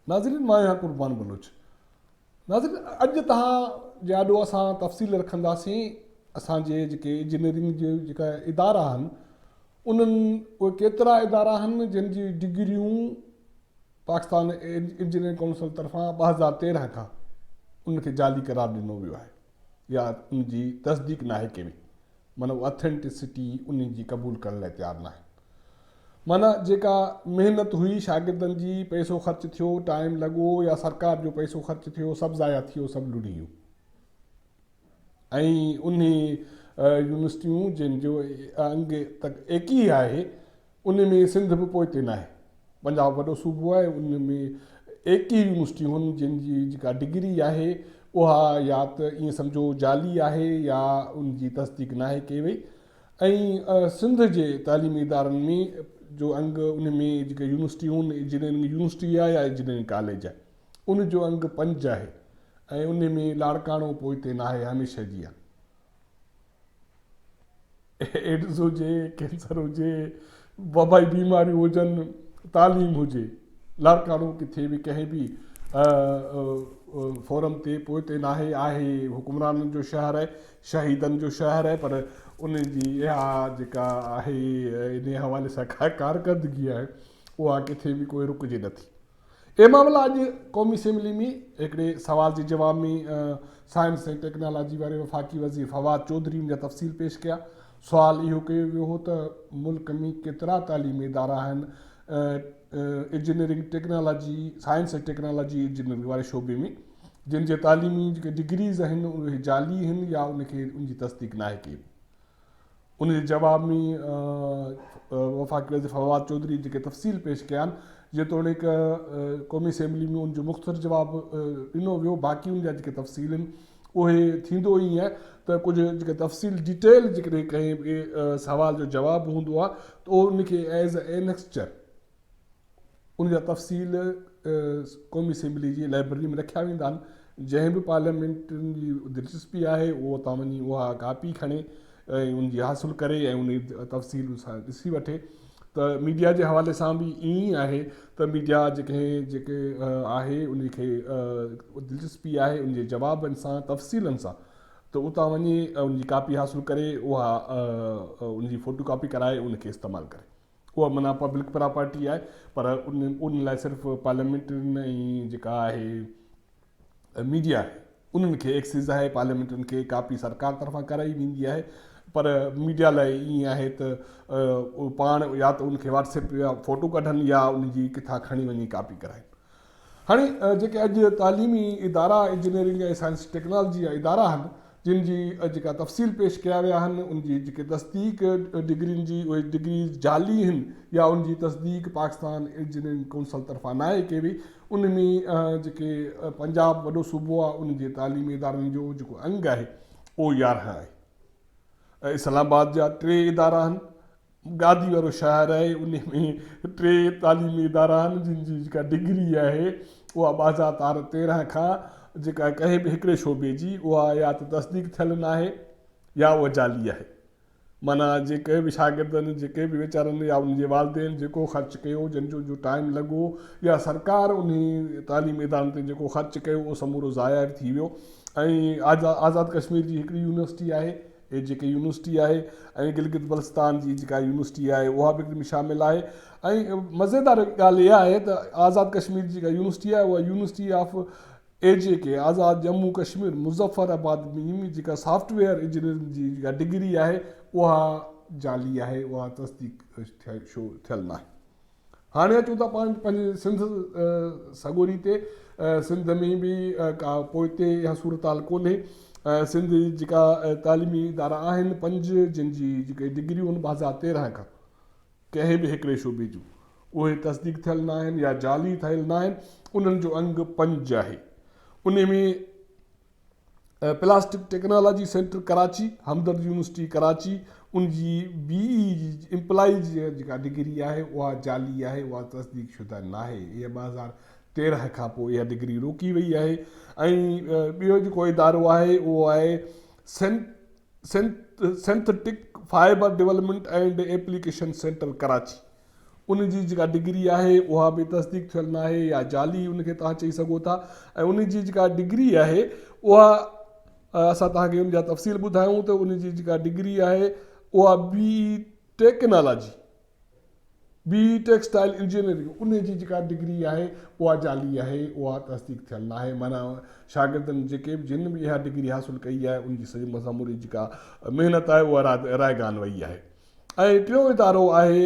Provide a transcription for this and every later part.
ناظرين مان آهيان قربان بلوچ ناظرين اڄ تهان جي آڏو اسان تفصيل رکنداسين اسان جي جيڪي انجنيئرنگ جي جيڪا ادارا آهن انهن اهي ڪيترا ادارا آهن جن جي ڊگريون پاڪستان انجنيئرنگ ڪائونسل طرفان ٻه هزار تيرهن کان ان کي جعلي قرار ڏنو ويو آهي يا ان جي تصديق ناهي ڪري معنيٰ اهو اٿينٽسٽي ان جي قبول ڪرڻ لاء تيار ناهن معنيٰ جيڪا محنت هئي شاگردن جي پئسو خرچ ٿيو ٽائيم لڳو يا سرڪار جو پئسو خرچ ٿيو سڀ ضايع ٿي ويو سڀ لڙي ويو ۽ انهي يونيورسٽيون جن جو انگ تڪ ايڪي آهي انهي ۾ سنڌ به پوئتي ناهي. پنجاب وڏو صوبو آهي ان ۾ ايڪي يونيورسٽيون جن جي جيڪا ڊگري آهي اها يا ته ائين سمجهو جعلي آهي يا ان جي تصديق ناهي ڪئي وئي ۽ سنڌ جي تعليمي ادارن ۾ جو انگ انهي ۾ جيڪي يونيورسٽيون انجنيئرنگ يونيورسٽي آهي يا انجنيئرنگ ڪاليج آهي. ان جو انگ پنج آهي ۽ انهي ۾ لاڙڪاڻو پوئتي ناهي هميشه جيان ايڊز هجي ڪينسر هجي وبائي بيماريون هجن تعليم هجي لاڙڪاڻو ڪٿي به ڪنهن به فورم تي پوئتي ناهي آهي حڪمرانن جو شهر آهي شهيدن جو شهر آهي پر ان جي اها جيڪا آهي ان حوالي سان ڪارڪردگي آهي اها ڪٿي به ڪوئي رڪجي نٿي اهي معاملا اڄ قومي اسيمبلي ۾ هڪڙي سوال جي جواب ۾ سائنس ۽ ٽيڪنالاجي واري وفاقي وزير فواد چوڌري ان جا تفصيل پيش ڪيا. سوال اهو ڪيو ويو هو ته ملڪ ۾ ڪيترا تعليمي ادارا آهن engineering technology science ۽ technology engineering واري شعبي ۾ جن جي تعليمي جيڪي ڊگريز آهن اهي جعلي آهن يا ان کي ان جي تصديق ناهي ڪئي وئي. ان جي جواب ۾ وفاقي وزير فواد چوڌري جيڪي تفصيل پيش ڪيا آهن جيتوڻيڪ قومي اسيمبلي ۾ ان جو مختصر جواب ڏنو ويو باقي ان جا جيڪي تفصيل آهن اهي ٿيندو ائين آهي ته ڪجهه جيڪي تفصيل ڊيٽيل جيڪڏهن ڪنهن سوال جو جواب هوندو آهي ته ان کي ايز اينڪسچر ان جا تفصيل قومي اسيمبلي جي لائبرري ۾ رکيا ويندا آهن جنهن به پارليامينٽرين جي دلچسپي آهي اهو اتان وڃي اها ڪاپي کڻي ۽ ان جي حاصل ڪري ۽ ان تفصيل سان ڏسي وٺي ته ميڊيا جي حوالي سان به ائين ئي آهي ته ميڊيا جيڪي جيڪي آهي ان کي دلچسپي آهي ان جي جوابن سان تفصيلن سان ته اتان وڃي ان جي ڪاپي حاصل ڪري اها ان جي فوٽو ڪاپي ڪرائي ان کي استعمال ڪري اها معنيٰ پبلڪ پراپرٽي آهي پر ان لاء صرف پارليامينٽرين ۽ جيڪا آهي ميڊيا آهي انهن کي ايڪسيز آهي پارليامينٽرين کي ڪاپي سرڪار طرفان ڪرائي ويندي آهي پر ميڊيا لاء ائين آهي ته پاڻ يا ته ان کي واٽس ايپ يا فوٽو ڪڍن يا ان جي ڪٿان کڻي وڃي ڪاپي ڪرائن هاڻي جيڪي اڄ تعليمي ادارا انجنيئرنگ ۽ سائنس ٽيڪنالاجي جا ادارا آهن جن جي جيڪا تفصيل پيش ڪيا ويا آهن ان جي جيڪي تصديق ڊگرين جي اهي ڊگريز جعلي هن يا ان جي تصديق پاڪستان انجنيئرنگ ڪونسل طرفان ناهي ڪئي وئي ان ۾ جيڪي پنجاب وڏو صوبو آهي ان جي تعليمي ادارن جو جيڪو انگ آهي اهو يارهن آهي اسلام آباد جا ٽي ادارا آهن گادي وارو شاعر آهي انهي ۾ ٽي تعليمي ادارا آهن جن جي جيڪا ڊگري آهي اها بازار تار تيرنهن کان جيڪا ڪنهن به هڪڙي شعبي جي اها يا ته تصديق ٿيل ناهي يا اها جعلي آهي معنيٰ جي ڪنهن به شاگردن جي ڪنهن به ويچارن يا انهن جي والدين جيڪو خرچ ڪيو جن جو جو ٽائيم لڳو يا سرڪار انهي تعليمي ادارن تي جيڪو خرچ ڪيو اهو سمورو ضايع به ٿي ويو ۽ آزاد ڪشمير جي هڪڙي يونيورسٽي آهي هي جيڪي يونيورسٽي آهي ۽ گلگت بلستان جي جيڪا يونيورسٽي آهي اها به ان شامل آهي ۽ مزيدار ڳالهه اها آهي ته آزاد ڪشمير جي جيڪا يونيورسٽي آهي اها university of A J K Azad Jammu Kashmir Muzaffarabad ۾ جيڪا سافٽ ويئر انجنيئرنگ جي جيڪا ڊگري آهي اها جعلي آهي اها تصديق ٿيل ناهي هاڻي اچون ٿا پاڻ پنهنجي سنڌ سڳوري تي. سنڌ ۾ به ڪا پوئتي اها صورتحال ڪونهي. سنڌ جي جيڪا تعليمي ادارا آهن پنج جن جي جيڪي ڊگريون آهن بازار تيرهن کان ڪنهن به هڪڙي شعبي جون اهي تصديق ٿيل نه آهن يا جعلي ٿيل نه آهن انهن جو انگ پنج آهي انهي ۾ ۽ plastic technology centre Karachi, Hamdard university Karachi, ان جي بي اي جي امپلائي جي جيڪا ڊگري آهي اها جعلي آهي، اها تصديق شده ناهي، اها ٻه هزار تيرنهن کان پوء اها ڊگري روڪي وئي آهي ۽ ٻيو جيڪو ادارو آهي اهو آهي synthetic fibre development and application centre Karachi, ان جي جيڪا ڊگري آهي اها به تصديق ٿيل ناهي يا جعلي ان کي توهان چئي سگهو ٿا ۽ ان جي جيڪا ڊگري آهي اها اسان توهان کي ان جا تفصيل ٻڌايون ته ان جي جيڪا ڊگري آهي اها B technology B textile engineering ان جي جيڪا ڊگري آهي اها جعلي آهي اها تصديق ٿيل ناهي معنيٰ شاگردن جيڪي به جن به اها ڊگري حاصل ڪئي آهي ان جي سموري جيڪا محنت آهي اها رائگان وئي آهي ۽ ٽيون ادارو آهي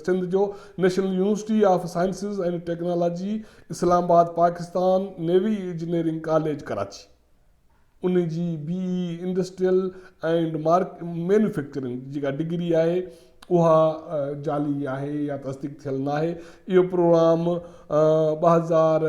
سنڌ جو national university of sciences and technology Islamabad Pakistan navy engineering college Karachi ان جي B E industrial and manufacturing جيڪا ڊگري آهي اها جعلي آهي يا تصديق ٿيل ناهي اهو پروگرام ٻه هزار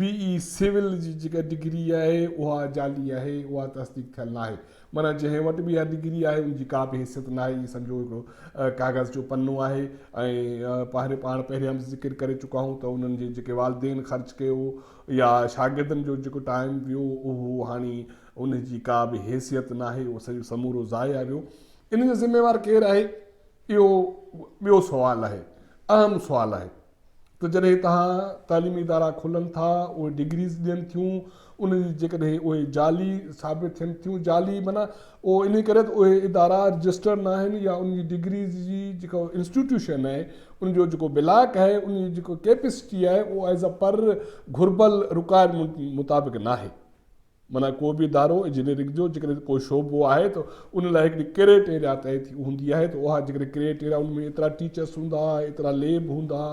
بي اي سول جي جيڪا ڊگري آهي اها جعلي آهي اها تصديق ٿيل ناهي معنيٰ جنهن وٽ به اها ڊگري آهي ان جي ڪا به حيثيت ناهي اهي سمجهو هڪڙو ڪاغذ جو پنو آهي ۽ پهرين پاڻ پهريان به ذڪر ڪري چڪا آهيون ته انهن جي جيڪي والدين خرچ ڪيو يا شاگردن جو جيڪو ٽائيم ويو اهو هاڻي ان جي ڪا به حيثيت ناهي اهو سڄو سمورو ضايع ويو ان جو ذميوار ڪير آهي اهو ٻيو سوال آهي اهم سوال آهي ته جڏهن هتان تعليمي ادارا کلن ٿا، اهي ڊگريز ڏين ٿيون، ان جي جيڪڏهن اهي جعلي ثابت ٿين ٿيون، جعلي معنيٰ اهو انهي ڪري ته اهي ادارا رجسٽرڊ ناهن يا ان جي ڊگريز جي جيڪا انسٽيٽيوشن آهي، ان جو جيڪو بلاڪ آهي، ان جي جيڪا ڪيپسٽي آهي اهو ايز پر گهربل رڪوائرمينٽ مطابق ناهي. معنيٰ ڪو به ادارو انجنيئرنگ جو جيڪڏهن ڪو شعبو آهي ته ان لاء هڪڙي ڪريٽيريا طئي ٿي هوندي آهي ته اها جيڪڏهن ڪريٽيريا ان ۾ ايترا ٽيچرس هوندا، ايترا ليب هوندا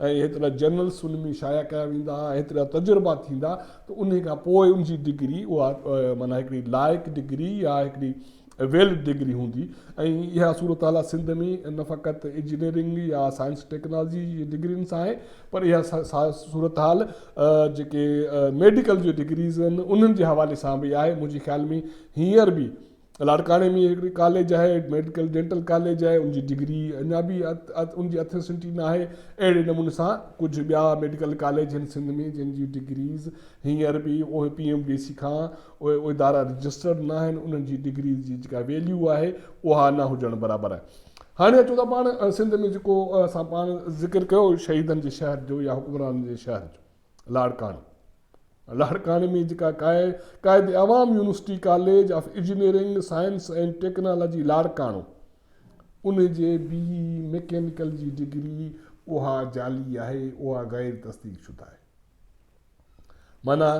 ۽ هيترا جرنلس ان ۾ شايع ڪيا ويندا، هيترا تجربا ٿيندا ته انهي کان پوء ان جي ڊگري اها معنيٰ هڪڙي لائق ڊگري يا هڪڙي ويلڊ ڊگري هوندي ۽ اها صورتحال سنڌ ۾ نه فقط انجنيئرنگ يا سائنس ٽيڪنالاجي جي ڊگرين سان آهي پر اها صورتحال جيڪي ميڊيڪل جي ڊگريز آهن انهن جي حوالي سان به آهي منهنجي خيال ۾ هينئر به لاڙڪاڻي ۾ هڪڙي ڪاليج آهي ميڊيڪل ڊينٽل ڪاليج آهي ان جي ڊگري اڃا به ان جي اٿينسٽي نه آهي اهڙي نموني سان ڪجهه ٻيا ميڊيڪل ڪاليج آهن سنڌ ۾ جن جي ڊگريز هينئر به اهي پي ايم ڊي سي کان اهي ادارا رجسٽرڊ نه آهن انهن جي ڊگري جي جيڪا ويليو آهي اها نه هجڻ برابر آهي هاڻي اچو ته پاڻ سنڌ ۾ جيڪو اسان پاڻ ذڪر ڪيو شهيدن جي شهر جو يا حڪمرانن جي شهر جو لاڙڪاڻي لاڙڪاڻي ۾ جيڪا Quaid Awam university college of engineering science ۽ technology Larkana ان جي بي ميڪينيڪل جي ڊگري اها جعلي آهي اها غير تصديق شده آهي معنيٰ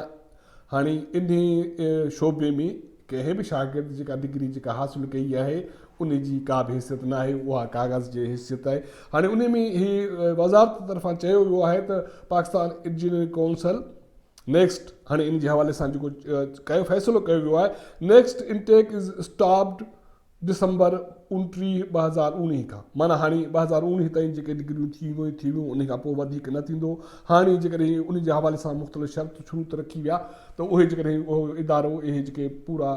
هاڻي انهيء شعبي ۾ ڪنهن به شاگرد جيڪا ڊگري جيڪا حاصل ڪئي آهي ان جي ڪا به حيثيت ناهي اها ڪاغذ جي حيثيت آهي هاڻي ان ۾ هي وزارت طرفان چيو ويو آهي ته پاڪستان انجنيئرنگ ڪائونسل نيڪسٽ هاڻي ان جي حوالي سان جيڪو ڪيو فيصلو ڪيو ويو آهي next intake is stopped December اوڻٽيهه، ٻه هزار اوڻيهه کان معنيٰ هاڻي ٻه هزار اوڻيهه تائين جيڪي ڊگريون ٿي ويون ٿي ويون انهي کان پوء وڌيڪ نه ٿيندو. هاڻي جيڪڏهن انهي جي حوالي سان مختلف شرط شروط رکي ويا ته اهي جيڪڏهن اهو ادارو اهي جيڪي پورا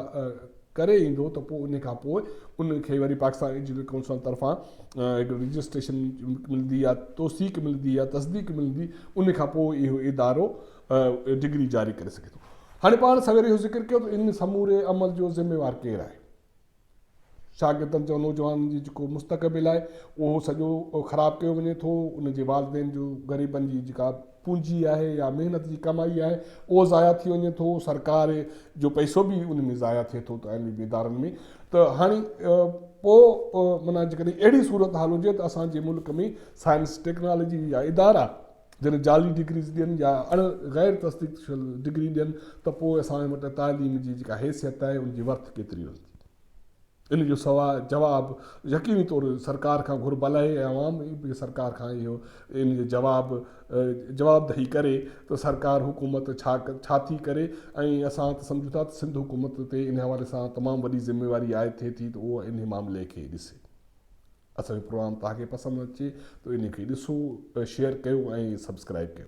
ڪري ايندو ته پوء انهي کان پوء ان کي وري پاڪستان ايجوڪيشن ڪائونسل طرفان هڪ رجسٽريشن ملندي يا توثيق ملندي يا تصديق ملندي انهي کان پوء اهو ادارو ڊگري جاري ڪري سگهي ٿو. هاڻي پاڻ سوير اهو ذڪر ڪيو ته ان سموري عمل جو ذميوار ڪير آهي؟ شاگردن جو نوجوانن جي جيڪو مستقبل آهي اهو سڄو خراب ڪيو وڃي ٿو ان جي والدين جو غريبن جي جيڪا پونجي آهي يا محنت جي ڪمائي آهي اهو ضايع ٿي وڃي ٿو سرڪار جو پئسو به ان ۾ ضايع ٿئي ٿو تعليمي ادارن ۾ ته هاڻي پو منا جيڪڏهن اهڙي صورت حال هجي ته اسان جي ملڪ ۾ سائنس ٽيڪنالاجي جا ادارا جڏهن جعلي ڊگريز ڏين يا اڻ غير تصديق شل ڊگري ڏين ته پوء اسان وٽ تعليم جي جيڪا حيثيت آهي ان جي ورٿ ڪيتري رهندي؟ ان جو سوا جواب يقيني طور سرڪار کان گهر بلائي ۽ عوام به سرڪار کان اهو ان جو جواب جوابدهي ڪري ته سرڪار حڪومت ڇا ڇا ٿي ڪري ۽ اسان ته سمجهون ٿا ته سنڌ حڪومت تي ان حوالي سان تمام وڏي ذميواري عائد ٿئي ٿي ته اهو ان معاملي کي ڏسي اسان جو پروگرام توهان کي پسند اچي ته انهي کي ڏسو شيئر ڪيو ۽ سبسڪرائيب ڪيو.